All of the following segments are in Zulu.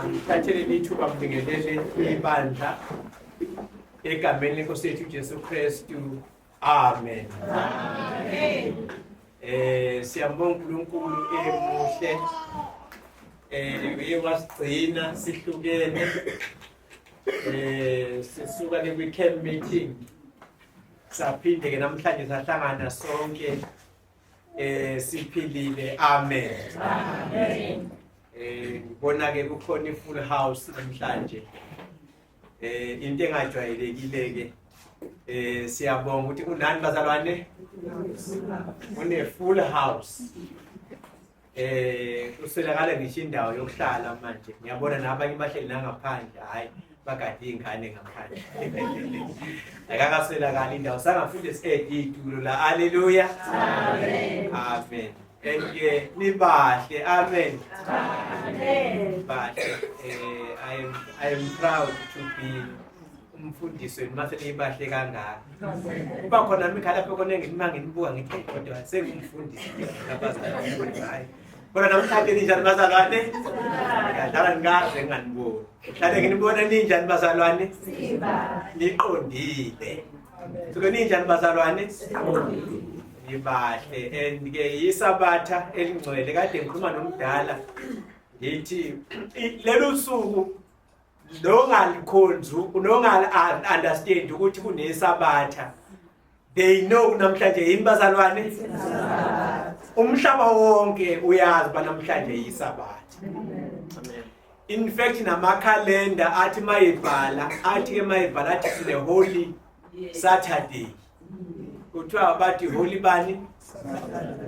Ngithathele lithuba ngibingelele ibandla egameni lenkosi yethu uJesu Kristu. Amen. Amen. Eh siyambonga uNkulunkulu emuhle. Eh uye wasigcina sihlukene. Eh sisuka ne weekend meeting. Saphinde ke namhlanje sahlangana sonke eh siphilile amen amen eh ngibona ke kukhona ifull house namhlanje eh into engajwayelekile ke eh siyabonga ukuthi kunani bazalwane une full house eh uselakala ngisho indawo yokuhlala manje ngiyabona nabanye bahleli nangaphandle hayi bagade iy'ngane ngaphandle akakaselakala indawo sangafunda esiqede iy'tulo la aleluya amen and ke nibahle amen bahle um I, am, i am proud to be umfundisweni uma sebeyibahle kangaka kuba khona mikhalapho kona engima nginibuka ngithi kodwa sengumfundisi abazalhayi kodwa namhlanje ninjani bazalwane ngadlala ngikaze nginganiboni mhlawumbe nginibona ninjani bazalwane niqondile suke ninjani bazalwane ngibahle and ke yisabatha elingcwele kade ngikhuluma nomdala ngithi lelu suku nongalikhonzi nongali understand ukuthi kunesabatha they know namhlanje yini bazalwane umhlaba wonke uyazi banamhlanje yisabatha in fact namakhalenda athi mayebhala athi ke mayebhala athi sine holy saturday kuthiwa bathi holy bani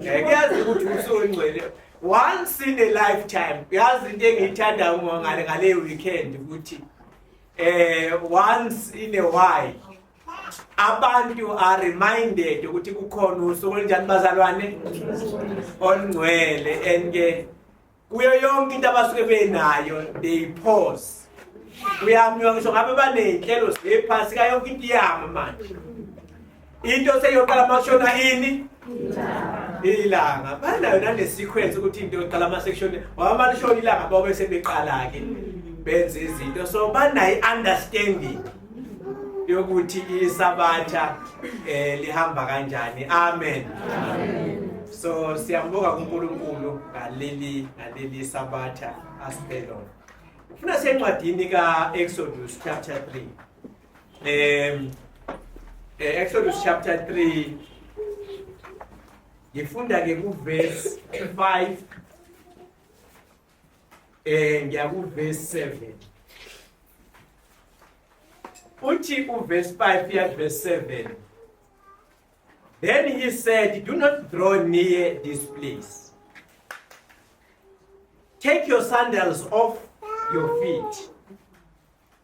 eh, kuyazi ukuthi usongcwele once in a lifetime uyazi into engiyithanda ngale ngale weekend ukuthi eh once in a while abantu are reminded ukuthi kukhona usuku olunjani bazalwane olungcwele and ke kuyo yonke into abasuke benayo they pause uyamnywa ngisho ngabe baney'nhlelo zephasi ka yonke into iyama manje into seyoqala makushona ini ilanga banayo nane-sequence ukuthi into yoqala amasection wamane ishona ilanga babe sebeqala-ke benze izinto so banayo i-understanding yokuthi isabatha eh lihamba kanjani amen so siyambonga kuNkulunkulu ngaleli ngaleli sabatha asipelo ufuna sencwadini ka Exodus chapter 3 em eh, Exodus chapter 3 ngifunda ke ku verse 5 eh ngiyakuverse 7 uthi uverse 5 iya verse 7 then he said do not draw near this place take your sandals off your feet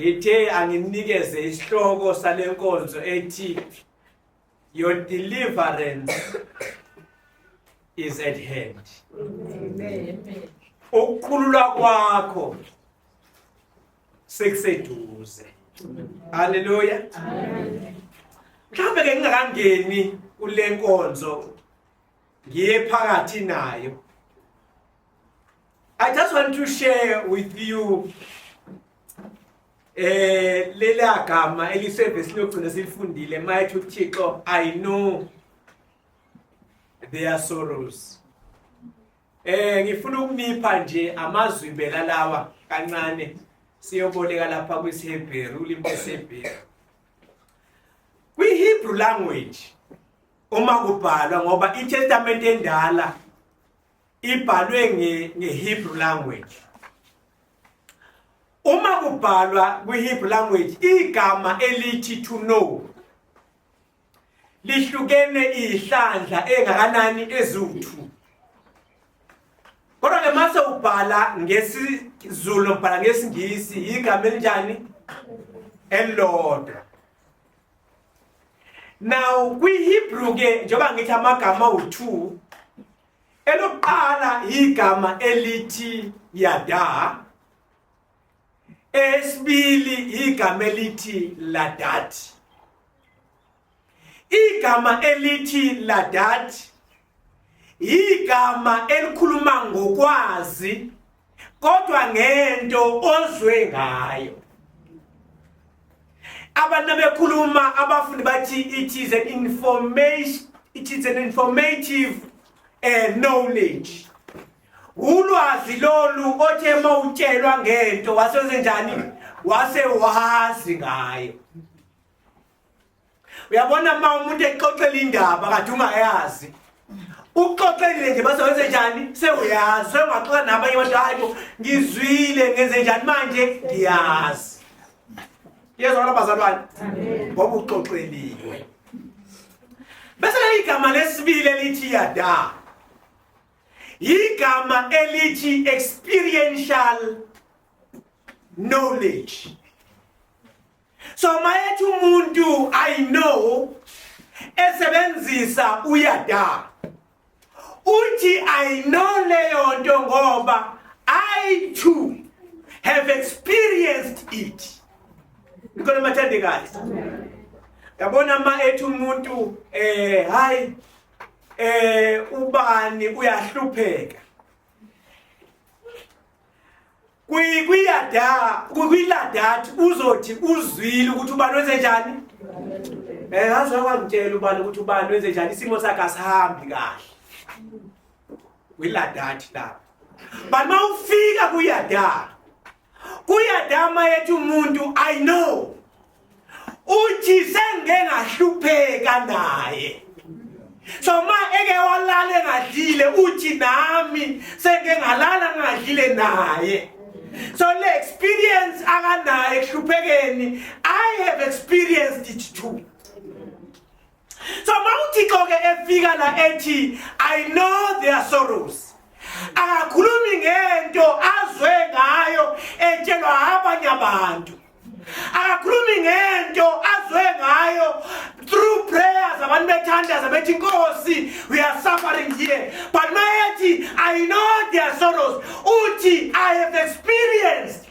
Ngithe anginikeze isihloko sale nkonzo ethi Your deliverance is at hand. Amen. Ukukhululwa kwakho sekuseduze. Haleluya. Amen. Mhlawumbe ke ngingakangeni kule nkonzo ngiye phakathi nayo I just want to share with you eh lela gama elisevesi lokugcina silifundile mayethi uThixo I know their sorrows eh ngifuna ukunipha nje amazwi impela lawa kancane siyoboleka lapha kwisiHebheru ulimbe seHebheru kwiHebrew language uma kubhalwa ngoba iTestamente endala ibhalwe ngeHebrew language uma kubhalwa kwiHebrew language igama elithi to know lihlukene ihlandla engakanani ezuthu kodwa ke mase ubhala ngesizulu ubhala ngesingisi igama elinjani elilodwa Now kwiHebrew ke njengoba ngithi amagama awu2 elokuqala igama elithi yada esibili igama elithi ladat igama elithi ladat igama elikhuluma ngokwazi kodwa ngento ozwe ngayo abantu bekhuluma abafundi bathi it is an information it is an informative uh, knowledge ulwazi lolu othe mawutshelwa ngento wasenze njani wase wazi ngayo uyabona uma umuntu exoxela indaba kade ungayazi uxoxelile nje base wenze njani sewuyazi sengaxoxa nabanye abantu hayi bo ngizwile ngenze njani manje ngiyazi yezwa kona bazalwane ngoba uxoxeliwe bese leli gama lesibili elithi yada yigama elithi experiential knowledge so mayethi umuntu i know esebenzisa uyada uthi i know leyo nto ngoba i too have experienced it ngikona mathandekazi yabona ma ethi umuntu eh hayi eh ubani uyahlupheka kwiladathi uzothi uzwile ukuthi ubani wenze njani um eh, ngazi wakwangitshela ubani ukuthi ubani wenze njani isimo sakhe asihambi kahle kwiladathi lapho but uma ufika kuyadala kuyadama yethi umuntu i know uthi sengike ngahlupheka naye so ma eke walala engadlile uthi nami sengike ngalala ngingadlile naye so le experience akanayo ehluphekeni i have experienced it too so mawuthixo ke efika la ethi i know their sorrows akakhulumi ngento azwe ngayo etshelwa abanye abantu akakhulumi ngento azwe ngayo through prayers abantu bethandaza bethi nkosi we are suffering here but mayethi i know their sorrows uthi i have experienced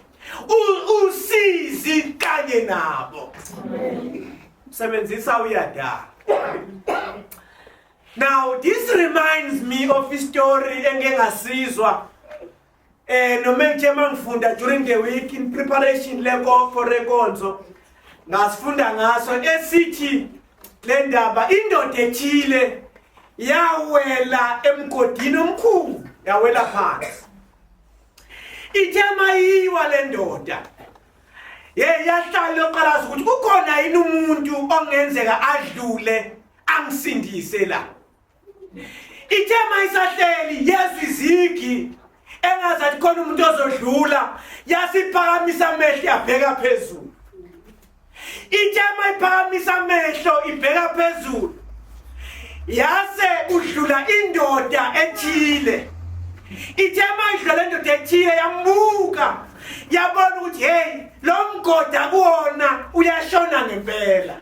usizi kanye nabo Amen. Msebenzisa uyadala. Now this reminds me of a story engeke ngasizwa eh noma ngithe mangifunda during the week in preparation leko for renkonzo ngasifunda ngaso esithi le ndaba indoda ethile yawela emgodini omkhulu yawela phansi ithe mayiwa le ndoda Hey yahlala yoqalaza ukuthi kukhona yini umuntu ongenzeka adlule angisindise la. Ithe mayisahleli yezwa izigi engazi athi khona umuntu ozodlula yasiphakamisa amehlo yabheka phezulu. Ithe mayiphakamisa amehlo ibheka phezulu yase udlula indoda ethile. Ithe mayidlula lendoda ethile yambuka yabona ukuthi hey lo mgoda kuwona uyashona ngempela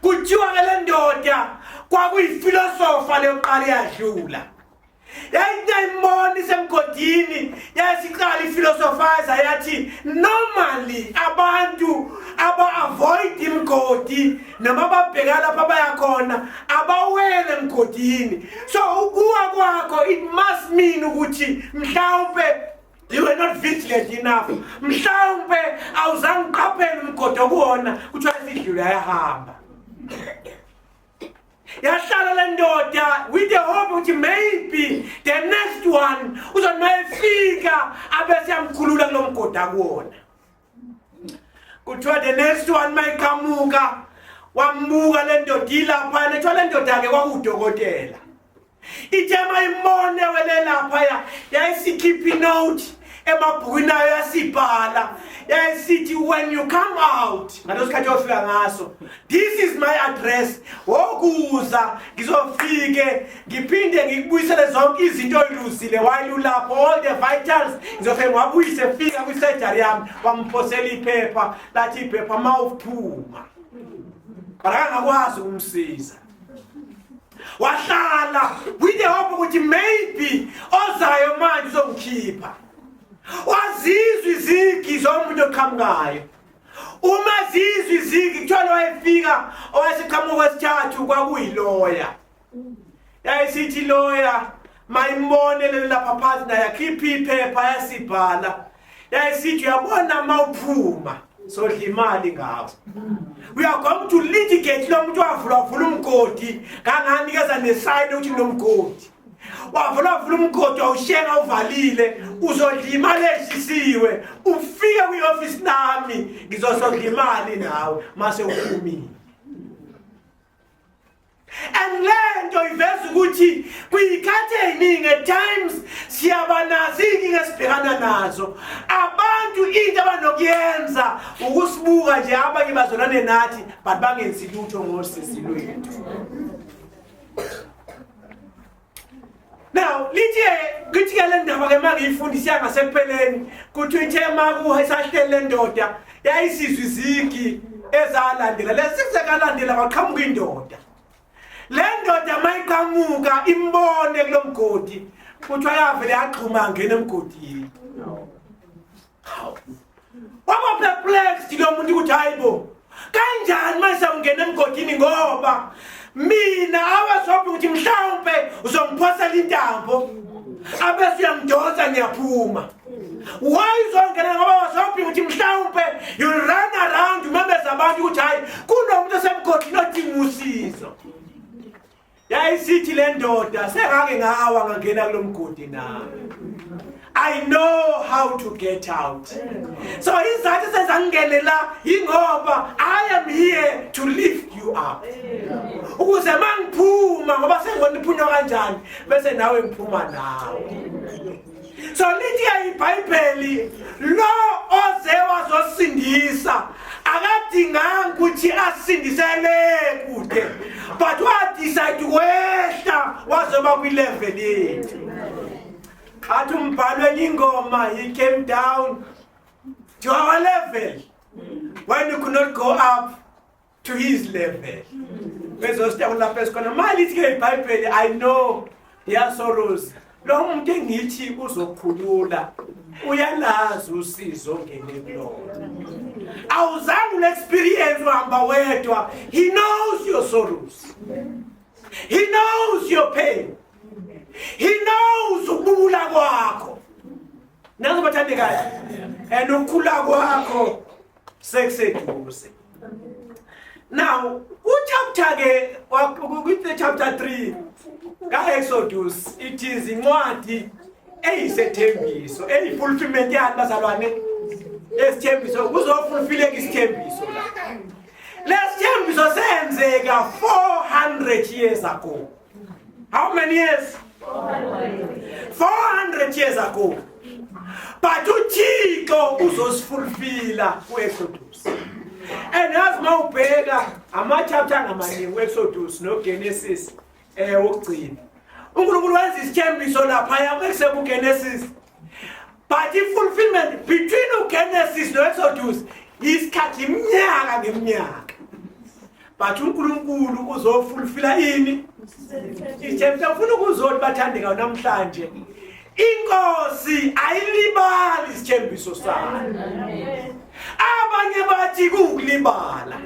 kuthiwa ke le ndoda kwakuyifilosofa leyokuqala yadlula yayinayimoni semgodini yayisiqala ifilosofaza yathi normally abantu aba-avoid imgodi noma babheka lapha bayakhona abawele emgodini so ukuwa kwakho it must mean ukuthi mhlawumpe You were not vigilant enough. Mhlawumbe awuzange uqaphele umgodi okuwona kuthiwa isidlula yahamba. Yahlala le ndoda with the hope ukuthi maybe the next one uzonayefika abese yamkhulula kulomgodi akuwona. kuthiwa the next one mayiqhamuka wambuka le ndoda ilaphana kuthiwa le ndoda-ke kwakuwudokotela ithe mayimone welelaphaya yayisikhipha inote emabhukwini ayo yasibhala yayisithi when you come out ngaleso sikhathi yofika ngaso This is my address. Wokuza ngizofike ngiphinde ngikubuyisele zonke izinto oyiluzile while ulapho all the vitals ngizofike ngwabuyise fika kwi surgery yami wamphosela iphepha lathi iphepha mawuphuma. Akangakwazi ukumsiza. Wahlala with the hope ukuthi maybe ozayo manje uzongikhipha. Wazizwa izigi zomuntu oqhamukayo. uma zizwa izigi kuthiwa lowayefika owayeseqhamuka kwesithathu kwakuyiloya yayisithi loya mayimbone lelo lapha phansi naye akhiphe iphepha yasibhala yayisithi uyabona ma uphuma sodla imali ngabo we are going to litigate lo muntu wavula wavula umgodi kanganikeza nesayini ukuthi ngilomgodi wavula wavula umgodi wawushenga uvalile uzodla imali eshisiwe ufike kwi-ofisi nami ngizosodla imali nawe mase uphumile and le nto iveza ukuthi kwiyikhathi ey'ningi at times siyabanazi iy'nkinga esibhekana nazo abantu into abanokuyenza ukusibuka nje abanye bazolane nathi but bangenzi lutho ngosisi lwethu Now lithi ngithi ke le ndaba ke mangiyifundisa yangasekupheleni kuthi ithe makuha isahlele le ndoda yayisizwe izigi ezalandela lesizekalandela kwaqhamuka indoda le ndoda mayiqhamuka imbone kulomgodi kuthiwa yavele yagxuma ngena emgodini waba perplexed lo muntu ukuthi hayi bo kanjani manje sawungena emgodini ngoba mina awasophi ukuthi mhlawumpe uzongiphosela intambo abese uyangidonsa ngiyaphuma why uzongena ngoba wasophi ukuthi mhlawumpe you run around umemeza abantu ukuthi hayi kunomuntu osemgodini odinga usizo yayisithi le ndoda sengake ngawa ngangena kulo mgodi na i know how to get out so izathu sezangingenela yingoba i am here to lift you up ukuze mangiphuma ngoba sengibona iphunywa kanjani bese nawe ngiphuma nawe so lithi ibhayibheli lo oze wazosindisa akadinganga ukuthi asindisele kude but wadecide wehla wazoba kwilevel yethu athi umbhalo elingoma he came down to our level when you could not go up to his level bezosita kulapho esikhona malithi ke ibhayibheli i know yasoros lo muntu engithi uzokhulula uyalazi usizo ongene kulona awuzange unexperience uhamba wedwa he knows your sorrows he knows your pain he knows ukubula kwakho nazo bathandekayo and ukukhula kwakho sekuseduze now kuchapter ke kwi chapter 3 ka Exodus it is incwadi eyisethembiso eyifulfillment yani bazalwane lesithembiso kuzofulfilleka isithembiso la lesithembiso senzeka 400 years ago How many years? 400 years ago. But uThixo uzosifulfila kuExodus. And as mawubheka ama chapter ngamaningi kuExodus noGenesis eh wokugcina. uNkulunkulu wenza isithembiso lapha yakho ekusebuGenesis but i-fulfillment between ugenesis no-exodus isikhathi iminyaka ngeminyaka but unkulunkulu uzofulfila ini ithemta ufuna ukuzoni bathande ngayo namhlanje inkosi ayilibali isithembiso sayo abanye bathi kuwukulibala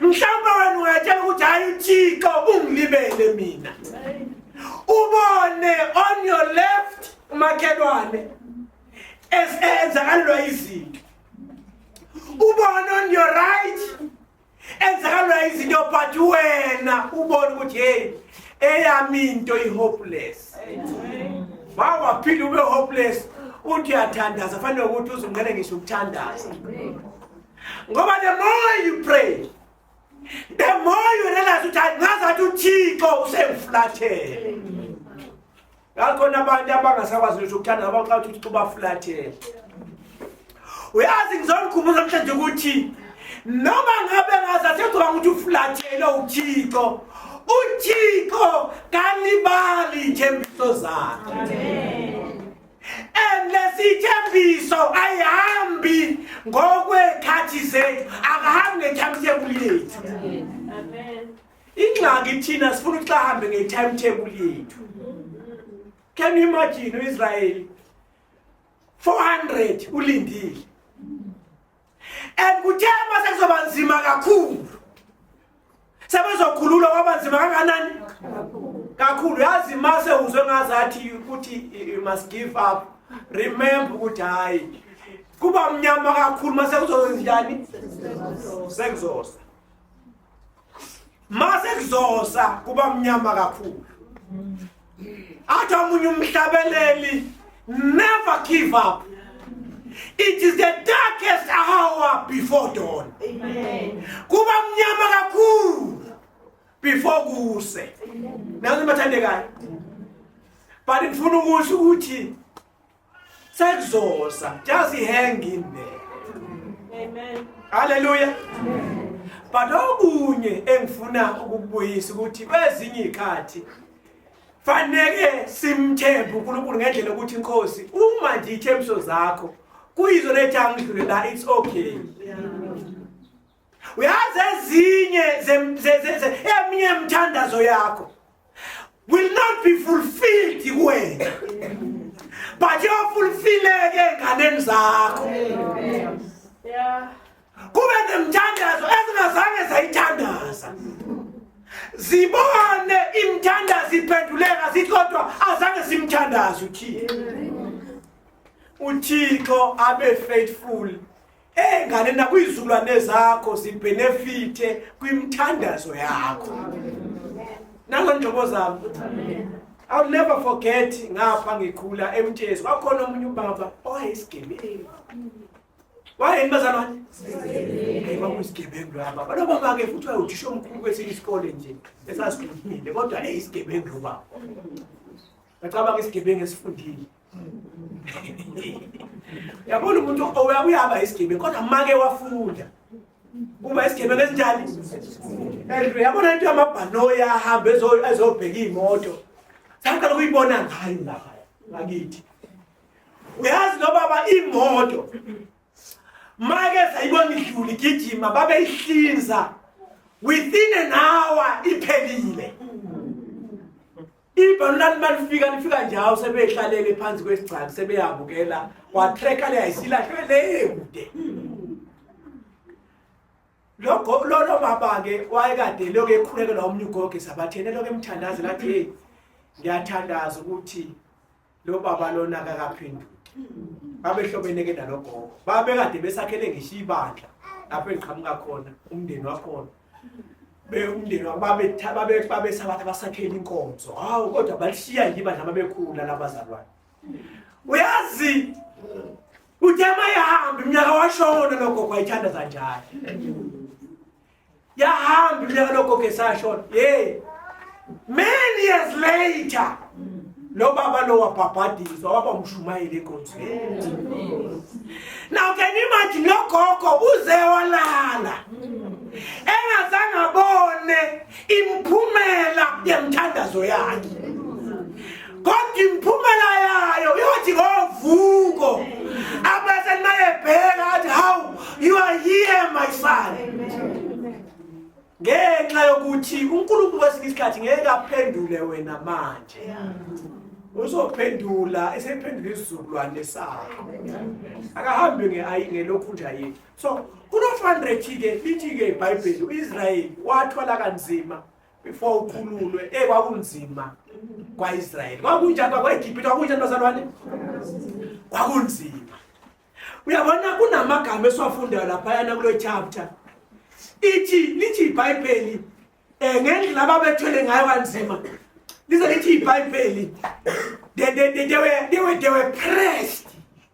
mhlawumbe wena ungatshela ukuthi hayi uthixo ungilibele mina ubone on your left umakhelwane esenzakalelwa izinto ubone on your right enzakalelwa izinto but wena ubone ukuthi heyi eyami into i-hopeless wawaphinde ube-hopeless uthi uyathandaza fanele ukuthi uzungqele ngisho ukuthandaza ngoba the more you pray the more you realize ukuthi ngazathi uthixo usengifulathele ngakhona abantu abangasakwazi ngisho ukuthanda abaxa ukuthi uthixo ubafulathele uyazi ngizonikhumbuza namhlanje ukuthi noma ngabe ngazathi ecoba ukuthi ufulathele uthixo uthixo kalibali ithembiso zakhe and lesithembiso ayihambi ngokwekhathi zethu akahambi nge-timetable yethu ingxaki thina sifuna ukuthi ahambe nge-timetable yethu can you imagine u-israyeli 400 ulindile and kuthe uma sekuzoba nzima kakhulu sebezokhululwa kwaba nzima kanganani kakhulu yazi uma sewuzwe ngazathi ukuthi you must give up remember ukuthi hhayi kuba mnyama kakhulu uma sekuzozenjani sekuzosa mase kuzosa kuba mnyama kakhulu athi omunye umhlabeleli never give up it is the darkest hour before dawn kuba mnyama kakhulu before kuse nazo bathandekayo but ngifuna ukusho ukuthi Sekuzosa. Just hang in there. Amen. Hallelujah. Amen. But okunye engifuna ukubuyisa ukuthi kwezinye ikhathi faneke simthembe uNkulunkulu ngendlela ukuthi inkosi uma nje ithembiso zakho kuyizona ethi angidlule la it's okay. Yeah. uyazi ezinye eminye yemthandazo yakho will not be fulfilled kuwena but yofulfileke enganeni zakho kube nemthandazo ezingazange zayithandaza zibone imthandazo iphenduleka zithi kodwa azange simthandaze uthixo uthixo abe faithful Hey ngane nakuyizukulwane zakho zibenefite kwimthandazo yakho. Nazo njobo zami. I'll never forget ngapha ngikhula emtshezi kwakhona omunye ubaba owayesigebengu. Wayeni bazalwane? Hey baba isigebengu laba. Balo baba ke futhi wayuthisha omkhulu kwesinye isikole nje esasikhulile kodwa hey isigebengu lobaba. Ngacabanga isigebengu esifundile. yabona umuntu uyaba isigebe kodwa make wafunda kuba isigebe ngesinjani and yabona into yamabhanoyi ahambe ezobheka iy'moto saqala ukuyibona ngayo lapha ngakithi uyazi nobaba imoto make sayibona idlula igijima babeyihlinza within an hour iphelile ibhanu lani balifika lifika njalo sebehlalele phansi kwesigcaki sebeyabukela watreka le ayisilahlwe le ekude lokho lolo baba-ke wayekade lokhu ekhulekela omnye ugoge sabathene lokhu emthandaze lathi heyi ngiyathandaza ukuthi lo baba lona akakaphenduki babehlobene ke nalogogo babekade besakhele ngisho ibandla lapho engiqhamuka khona umndeni wakhona umndeni babesabathi basakhele inkonzo hawu kodwa balishiya nje ibandla babekhula labazalwane uyazi uthe mayihambe mnyaka washona logogo ayithanda zanjani yahamba iminyaka lokho ke sashona hey many years later lo baba lo wabhabhadiswa waba umshumayeli egonzweni now can you imagine lo gogo uze walala engazange abone imphumela yemthandazo yakhe kodwa imphumela yayo iyothi ngovuko abazali bayebheka athi how you are here my son ngenxa yokuthi unkulunkulu kwesinye isikhathi ngeke aphendule wena manje uzophendula esephendula isizukulwane sakho akahambe ngelokhu nje ayini so kuno-100 ke lithi-ke ibhayibheli u-israyeli wathwala kanzima before ukhululwe eh kwakunzima kwaIsrael kwakunjani kwaEgypt kwakunjani bazalwane kwakunzima uyabona kunamagama esiwafundayo lapha yana kulo chapter ithi lithi iBhayibheli eh ngendlela ababethwele ngayo kanzima lize lithi iBhayibheli they they they were they were they were pressed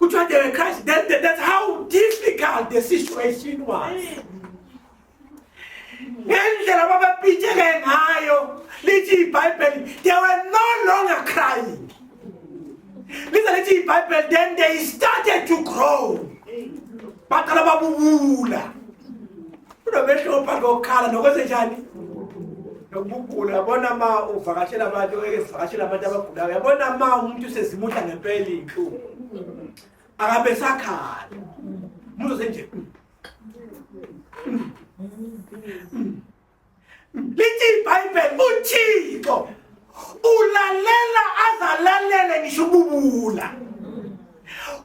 Kuthiwa they were crying. That, that, that's how difficult the situation was. Ngendlela babepitsheke ngayo lithi iBhayibheli they were no longer crying. Lize lithi iBhayibheli then they started to grow. Baqala babubula. unomehluko phakathi kokukhala nokwenzenjani nokugula yabona ma uvakashela abantu eke sivakashela abantu abagulayo yabona ma umuntu usezimudla ngempela iy'nhlungu akabe sakhala umuntu osenje lithi ibhayibheli uthixo ulalela azalalele ngisho ububula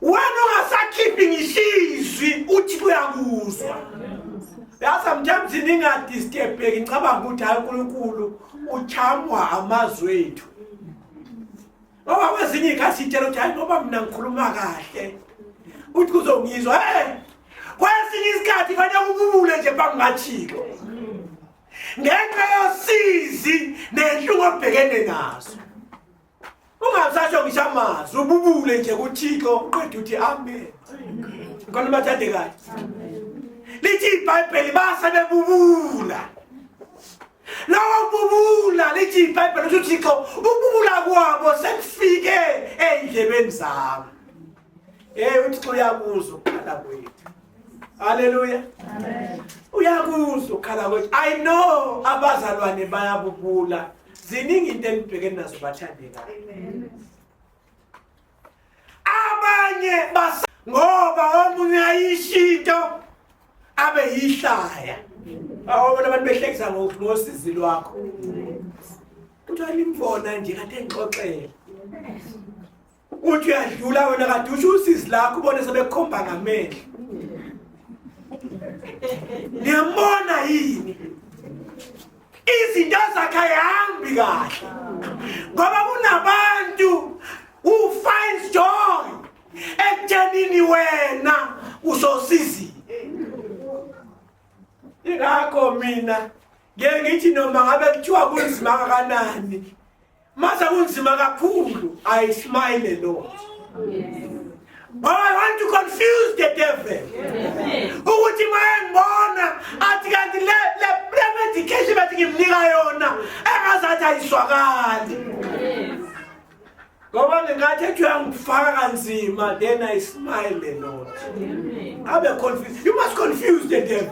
wena ungasakhiphi ngisho izwi uthi kuyakuzwa ya sometimes ningadistebheki ngicabanga ukuthi hayi unkulunkulu uchamwa amazwi ethu ngoba kwezinye iy'khathi itshela ukuthi hayi ngoba mina ngikhuluma kahle uthi kuzongizwa e kwesinye isikhathi fanele ububule nje bangingathiko ngenxa yosizi nenhlungu obhekene nazo ungasasho ngisho amazwi ububule nje kuthixo uqeda uthi amen khona bathande kahle lithi ibhayibheli base bebubula lawa kububula lithi ibhayibheli ukuthi uthixo ukububula kwabo sekufike ey'ndlebeni zabo Hey uThixo uyakuzwa ukukhala kwethu. Haleluya. Amen. Uyakuzwa ukukhala kwethu. I know abazalwane bayabubula. Ziningi into enibhekene nazo bathandeka. Amen. Abanye bas ngoba omunye ayishinto abe yihlaya. Awona abantu behlekisa ngosizi lwakho. Kuthiwa limfona nje kade ngixoxela. uthi uyadlula wena kade usho usizi lakho ubone sebekhomba ngamehlo niyambona yini izinto zakhe ayihambi kahle ngoba kunabantu ufinds joy ekuthenini wena usosizi ingakho mina ngeke ngithi noma ngabe kuthiwa kunzima kanani Mase kunzima kakhulu I smile a lot. Yes. But I want to confuse the devil. Ukuthi mayengibona athi kanti le le medication bathi ngimnika yona engazathi ayiswakali. Ngoba ngingathi ethi uyangifaka kanzima then I smile a lot. Abe confused. You must confuse the devil.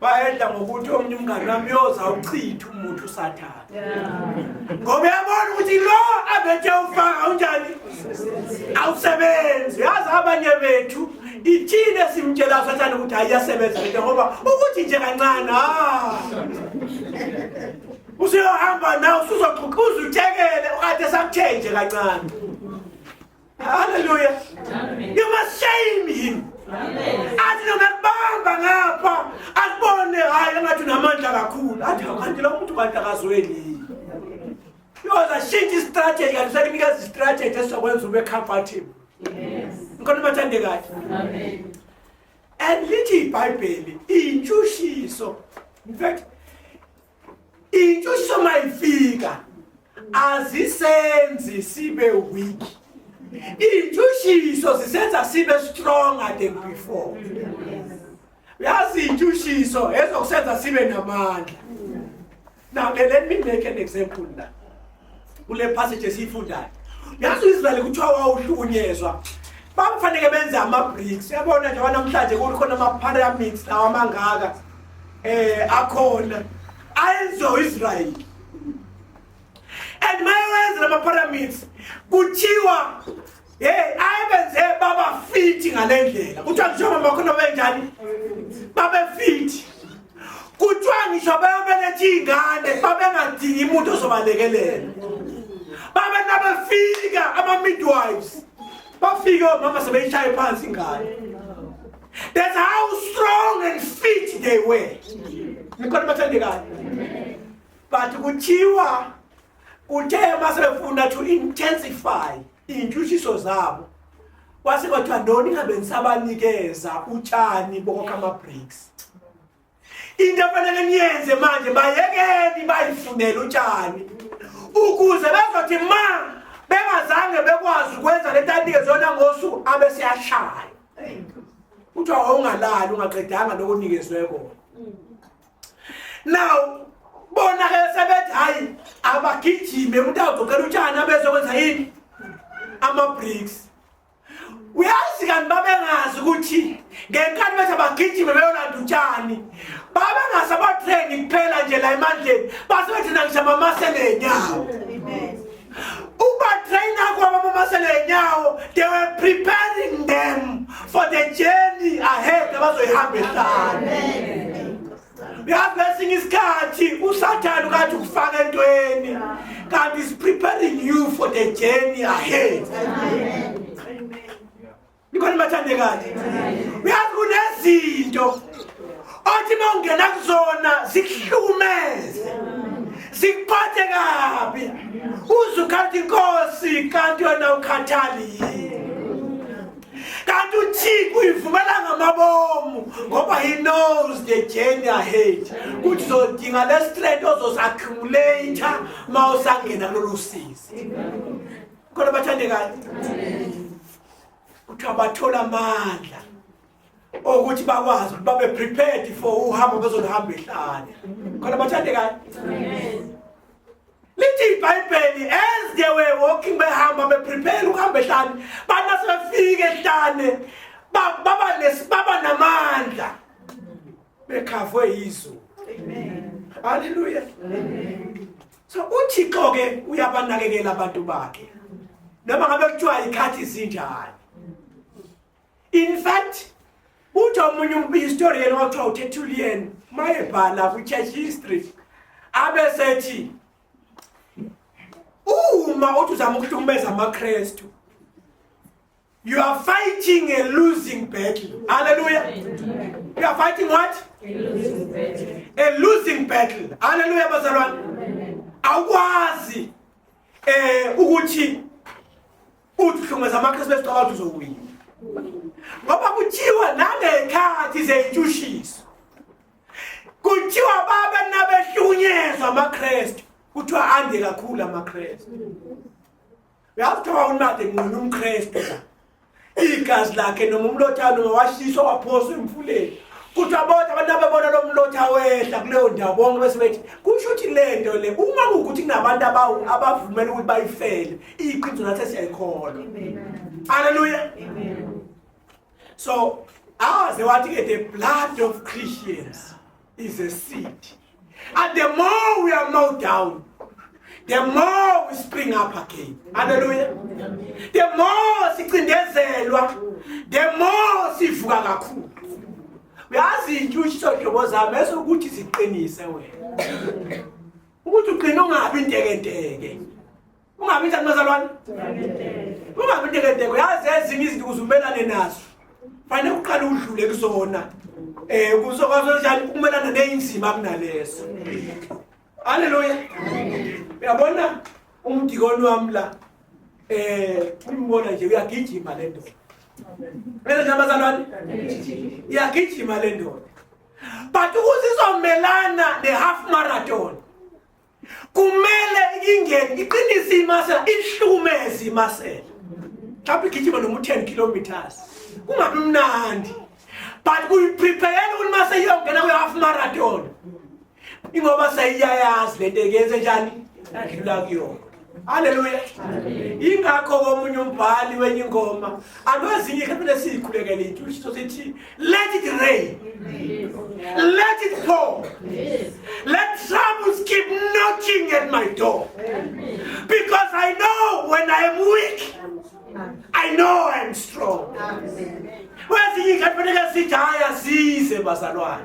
bayedla ngokuthi omunye umngane wami yoza uchitha umuntu usathane ngoba yabona ukuthi lo abethe ufaka unjani awusebenzi yazi abanye bethu ithini esimtshela sathane ukuthi hayi yasebenza lento ngoba ukuthi nje kancane ha ah. usuyohamba nawe usuzoxhuqhuza uthekele ukade sakuthenje kancane Hallelujah. Amen. You must shame him. athi noma kubamba ngapha akubone hayi engathi unamandla kakhulu athi kanti lo muntu kanti akazweni yoza shintsha istrategy kanti sekunikeza istrategy esizokwenza ube comfortable ngikhona bathande kahle and lithi ibhayibheli iyintshushyiso in fact intshushisa uma ifika azisenzi sibe weak iy'ntshushiyso zisenza sibe stronger than before uyazi iy'ntshushiyso ezokusenza sibe namandla now let me make an example now kule passage esiyifundayo yazi uIsrael kuthiwa wawuhlukunyezwa bakufanele benze ama-bricks yabona nje wanamhlanje kukhona ama-pyramids lawa amangaka eh akhona ayenziwa uIsrael and mayewenza lama-pyramids kuthiwa hey ayibenze baba fithi ngalendlela kuthiwa ngisho mama khona benjani babe fithi kuthiwa ngisho bayobeletha iy'ngane babengadingi muntu ozobalekelela babe nabefika ama-midwives bafike omama sebeyishaye phansi ingane that's how strong and fit they were nikhona bathandekayo but kuthiwa kuthe masebefuna to intensify iy'ntshutshiso zabo kwase kwathiwa no ningabe nisabanikeza utshani bokokha ama-breaks into efanele niyenze manje bayekeni bayifunele utshani ukuze bezothi ma bengazange bekwazi ukwenza le nto anikezwe yona ngosuku abe siyashaya kuthiwa wawungalali ungaqedanga lokunikezwe kona now bona ke sebethi hayi abagijime umuntu agogela utshani abezokwenza yini ama-bricks uyazi kanti babengazi ukuthi ngenkani bethi abagijime beyolanda utshani babengazi abatreni kuphela nje la emandleni base bethi nangishamamase nenyawo ubatraina kwabamamase lenyawo they were preparing them for the journey ahead abazoyihamba ehlane uyazi ngesinye isikhathi usathane ukathi ukufaka entweni kanti is preparing you for the journey ahead Amen. Nikhona bathandekazi. Uyazi kunezinto othi mawungena kuzona zikuhlumeze. Sikuphathe kabi. Uzukhathi inkosi kanti yona ukhathali yini? kanti uthixo uyivumela ngamabomu ngoba he knows the journey ahead kuthi zodinga le straight ozosaccumulate uma usangena kulolu sizi khona bathandekayo kuthiwa bathola amandla okuthi bakwazi ukuthi babe prepared for uhambo bezoluhamba ehlane khona bathande kahle lithi ibhayibheli as they were walking behamba beprepare ukuhamba ehlane bana sebefike ehlane baba nesibaba namandla bekhavwe yizulu haleluya so uthixo ke uyabanakekela abantu bakhe noma ngabe kuthiwa ikhathi zinjani in fact uthi omunye umhistorian othiwa utertullian mayebhala kwi-church history abe sethi uma uthi uzama ukuhlukumeza amakrestu You are fighting a losing battle. Hallelujah. You are fighting what? A losing battle. A losing battle. Hallelujah bazalwane. Awukwazi eh ukuthi uthumeza amaKristu besicabanga uzowina. Ngoba kuthiwa nangekhathi zeyintshushisi. Kuthiwa baba nabehlunyezwa amaKristu. Kuthiwa ande kakhulu amaKristu. uyazi kuthiwa unade nqina umkristu igazi lakhe noma umlothane noma washiswa waphoswa emfuleni kuthi abodwa abantu abebona lo mlotha wehla kuleyo ndawo bonke bese bethi kusho ukuthi le nto le uma kuwukuthi kunabantu abavumela ukuthi bayifele iqiniso nathi siyayikholwa haleluya so awaze wathi-ke the blood of christians is a seed. And the more we are mowed down, the more we spring up again. Hallelujah. The more sicindezelwa, the more sivuka kakhulu. Uyazi into ushiso hlobo zami esokuthi siqinise wena. Ukuthi uqina ungabi intekenteke. ungabi njani bazalwane ungabi ntekenteko yazi ezinye izinto ukuze umelane nazo fanele kuqala udlule kuzona eh kuzokwazi njani ukumelana neyinzima kunaleso haleluya uyabona umdikoni wami la eh umbona nje uyagijima le ndoda bese nje abazalwane iyagijima le ndoda but ukuze izomelana ne-half marathon kumele ingene iqinise imasela ihlukumeze imasela mhlawumbe igijima noma u-10 kilometers kungabi mnandi but uyiprepayela ukuthi uma seyiyongena kwi-half marathon ingoba seyiyayazi le nto ekenze njani yadlula kuyona Haleluya. Ingakho komunye umbhali wenye ingoma akwezinye ikhempile siyikhulekele intshushito sithi let it rain. Let it pour. Let troubles keep knocking at my door. Because I know when I am weak I know I am strong. Kwezinye ikhempile sithi haya size bazalwane.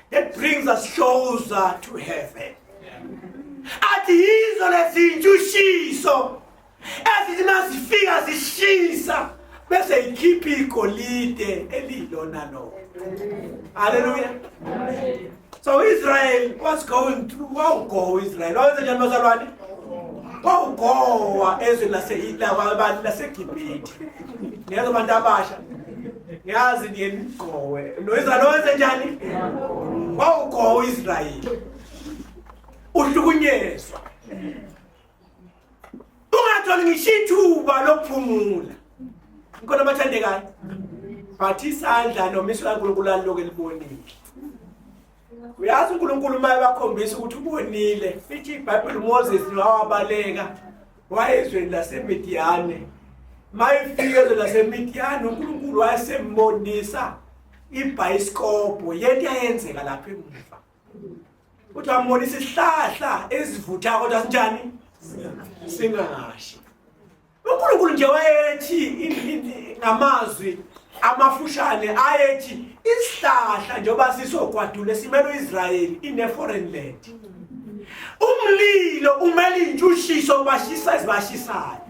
that brings us closer to heaven athi yizo lezintshutshiso ezithi mazifika zishisa bese ikhipha igolide elilona lona haleluya so israel was going through wawugowa israel wawenze njani bazalwane wawugowa ezweni lasegibhithe ngezo bantu abasha yazi ndiye ndigqowe noyizalo wenze njani wawugqowe uisrayeli uhlukunyezwa ungatholi ngisho ithuba lokuphumula ngikhona abathandekayo but isandla nomiso kankulunkulu aliloke libonile uyazi unkulunkulu uma ebakhombisa ukuthi ubonile ithi ibhayibhile umoses nowawabaleka wayezweni lasemidiyane uma ifike ezweni lasemidiyane unkulunkulu wayesembonisa ibhayisikobho yento yayenzeka lapha emuva uthi wambonisa isihlahla esivuthayo kodwa sinjani singashi uNkulunkulu nje wayethi ngamazwi amafushane ayethi isihlahla njengoba sisogwadula esimele uIsrayeli ine foreign land umlilo umele intshushisa ubashisa ezibashisayo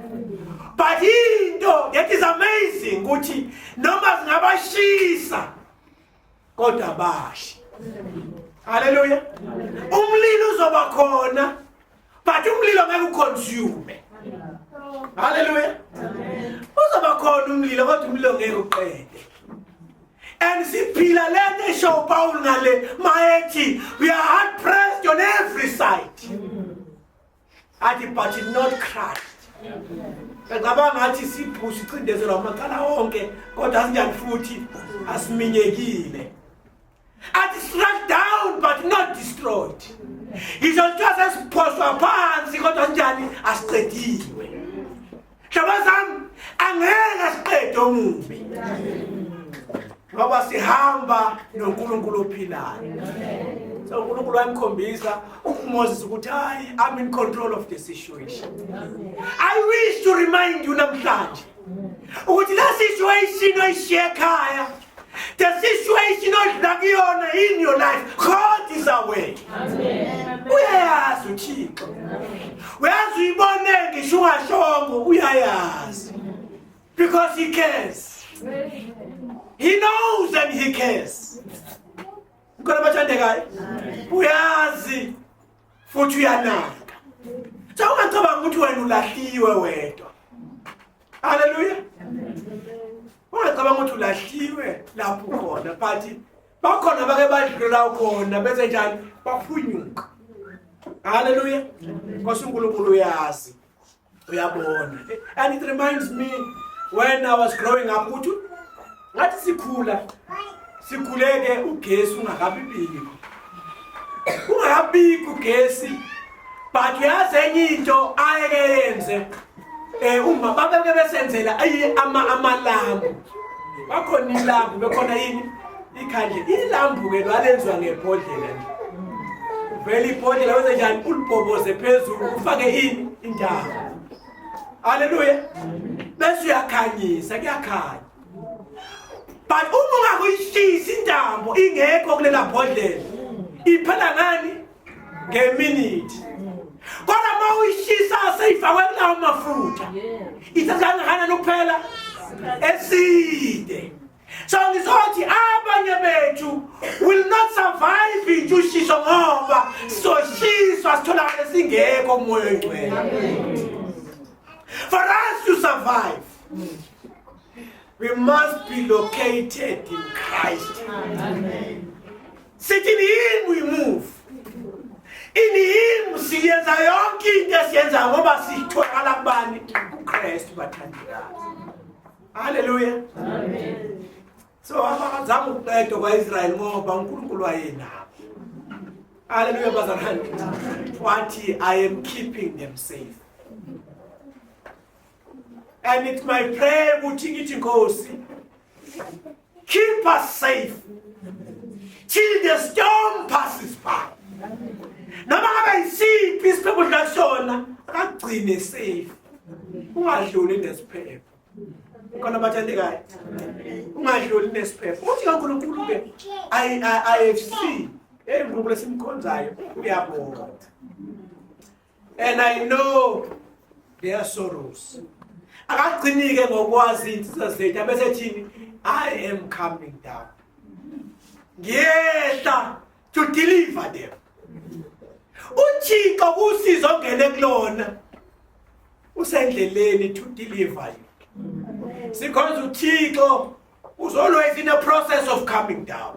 but into that is amazing ukuthi noma zingabashisa kodwa bashi haleluya umlilo uzoba khona but umlilo ngeke uconsume haleluya uzoba khona umlilo kodwa umlilo ngeke uqede and siphila le nto esho upawulu ngale mayethi we are hard pressed on every side mm -hmm. athi but not crushed ngicabanga ngathi sibhushi cindezelwa amacala onke kodwa asinjani futhi asiminyekile athi struck down but not destroyed ngisho kuthiwa sesiphohlwa phansi kodwa sinjani asiqediwe Shabazam angeke siqede omubi. Ngoba sihamba noNkulunkulu ophilayo. So uNkulunkulu wamkhombisa uMoses ukuthi hayi I'm in control of the situation. I wish to remind you namhlanje ukuthi la situation oyishiye ekhaya The situation odlula kuyona in your life, God is aware. Uyayazi uThixo. Uyazi uyibone ngisho ungashongo uyayazi. Because he cares. He knows and he cares. Mkhona bathandekayo. Uyazi. futhi uyanaka sawungacabanga ukuthi wena ulahliwe wedwa haleluya ungacabanga ukuthi ulahliwe lapho khona but bakhona bake badlula khona bese njani baphunyuka haleluya nkosi unkulunkulu uyazi uyabona and it reminds me when i was growing up ukuthi ngathi sikhula sikhuleke ugesi ungakabibiki ungakabiki ugesi but uyazi enye into ayeke yenze um uma babeke besenzela ayi ama-amalami bakhona ilambu bekhona yini ikhandle ilambuke lwalenziwa ngebhodlela nje vele ibhodlela wenze njani ulibhoboze phezulu ufake ini indawo haleluya bese uyakhanyisa kuyakhanya but uma ungakuyishisi intambo ingekho kulela bhodlela iphela ngani ngeminithi kodwa uma uyishisa seyifakwe kulawo mafutha ithatha kangakanani ukuphela eside so ngizothi abanye bethu will not survive intshushishwa ngoba sizoshiswa sitholakale singekho umoya oyingcwele for us to survive we must be located in christ sithi in him we move in him siyenza yonke into esiyenzayo ngoba sitholakala kubani kukristu bathandekazi Haleluya. Amen. So abazama ukuqedwa kwaIsrael ngoba uNkulunkulu wayenabo. Haleluya bazalwane. Wathi I am keeping them safe. And it's my prayer ukuthi ngithi Nkosi keep us safe till the storm passes by. Noma ngabe isiphi isiphepho la sona akagcine safe. Ungadluli nesiphepho. khona abathandekayo ungadluli nesiphepho uthi kaNkulunkulu ke IFC hey ngqobo lesimkhonzayo uyabonga and i know their sorrows akagcinike ngokwazi insizwa zethu abese thini i am coming down ngiyehla to deliver them uthixo kusiza ongene kulona usendleleni to deliver you sikhonza uthixo was always in a process of coming down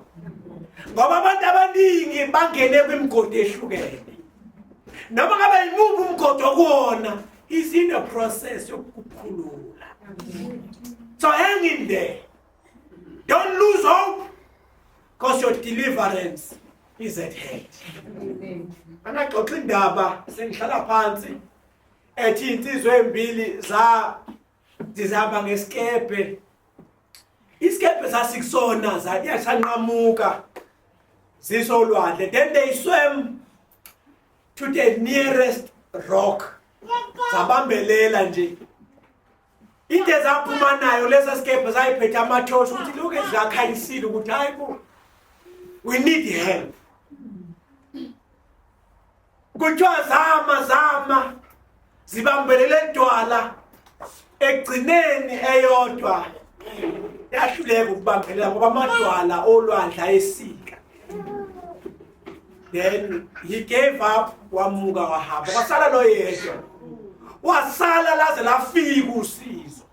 ngoba abantu abaningi bangene kwimigodi ehlukene noma ngabe yimuphi umgodi okuwona is in a process yokukhulula so hang in there Don't lose hope because your deliverance is at hand. Angaxoxa indaba sengihlala phansi ethi insizwe embili za zizaba ngesikebhe isikebhe sasikusona zayasanqamuka zisolwandle then they swam to the nearest rock zabambelela nje into ezaphuma nayo lesa sikebhe zayiphethe amathosha ukuthi lokhu ezakhanyisile ukuthi hayi bo we need help kuthiwa zama zama zibambelele dwala ekugcineni eyodwa yahluleka ukubambelela ngoba amadwala olwandle ayesika then he gave up wamuka wahamba kwasala lo yedwa wasala laze lafika usizo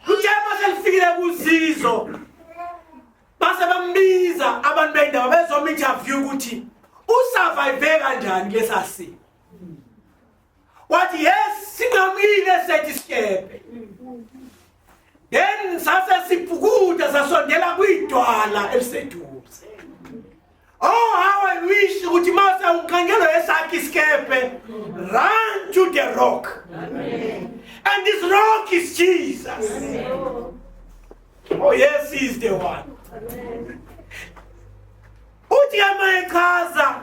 kutshema selifikile kusizo base bambiza abantu bendawo bezoma interview ukuthi usurvive kanjani kulesasimo wathi yes sinqamile sethi sikebhe then sase sibhukuda sasondela kwidwala eliseduze oh how i wish ukuthi mase unqangelo esakhe isikebhe run to the rock and this rock is jesus oh yes he is the one uthi amayechaza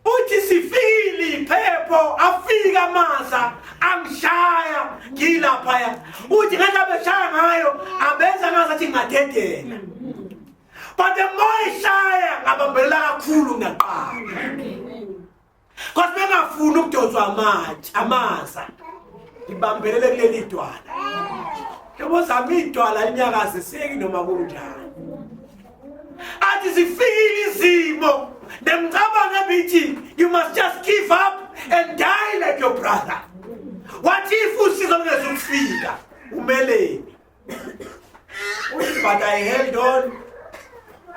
uthi sifile iphepho afika amaza angishaya ngilaphaya uthi ngathi abeshaya ngayo abenza ngazathi ngingadedela but the more ishaya ngabambelela kakhulu ngaqala kodwa bengafuni ukudonswa amatshe amaza ngibambelele kuleli dwala yebo zami idwala linyakaziseki noma kunjani athi zifikile izimo nemcabango ebithi you must just give up and die like your brother what if usizo lungezukufika umeleni but i held on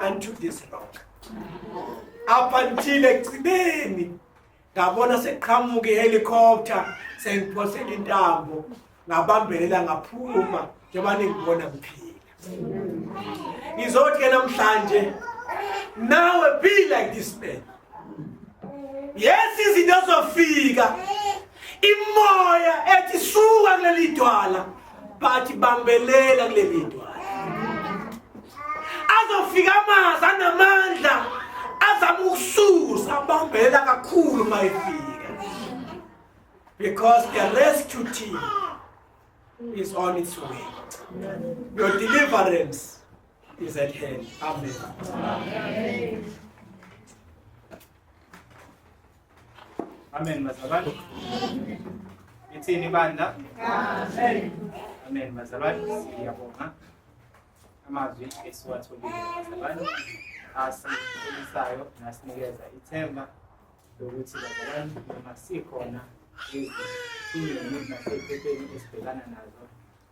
unto this rock up until ekugcineni ngabona sekuqhamuka ihelikoptha sengiphosela intambo ngabambelela ngaphuma njengoba ningibona ngiphila ngizothi-ke namhlanje nawe be like this man yes izinto zofika imoya ethi suka kuleli dwala but bambelela kule video azofika amazi anamandla azama ukususa abambela kakhulu mayifika because the rescue team is on its way your deliverance is at hand amen, amen. Amen bazalwane. Ithini bandla? Amen. Amen bazalwane. Siyabonga amazwi esiwatholile bazalwane asikholisayo nasinikeza ithemba lokuthi bazalwane noma sikhona ezweni nasey'phetheni esibhekana nazo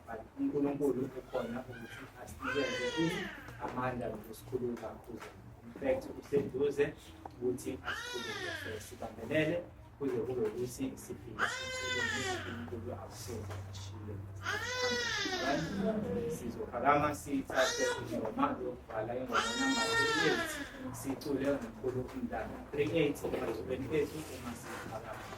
but uNkulunkulu ukhona ukuthi asinikeze ini amandla nokusikhulula kuze in fact useduze ukuthi asikhulule so sibambelele kuze kube ukuthi sifike uNkulunkulu akusoze ashile sizophakama sithathe ingoma yokubhala ingoma namba 38 sicule ngomkhulu umntana 38 emazubeni ethu uma siphakama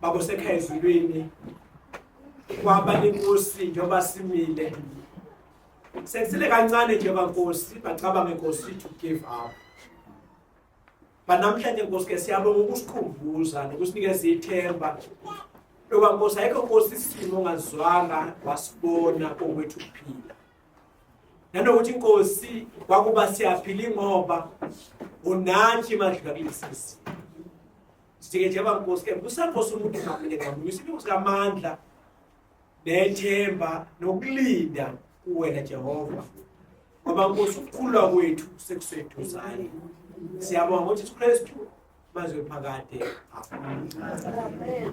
baba osekhaya ezulwini kwaba inkosi njengoba simile sekusele kancane nje bankosi bacabange nkosi to give up banamhlanje nkosi ke siyabonga ukusikhumbuza nokusinikeza ithemba loba nkosi ayikho nkosi isimo ongazwanga wasibona kokwethu kuphila nanokuthi inkosi kwakuba siyaphila ingoba unathi madlula kulesisi Sithike nje bankosi ke kusaphosa umuntu ngaphandle ngami. Isipho sikamandla nethemba nokulinda kuwena Jehova. Ngoba nkosi ukukhulwa kwethu sekuseduzane. Siyabonga ukuthi uKristu mazwe phakade. Amen.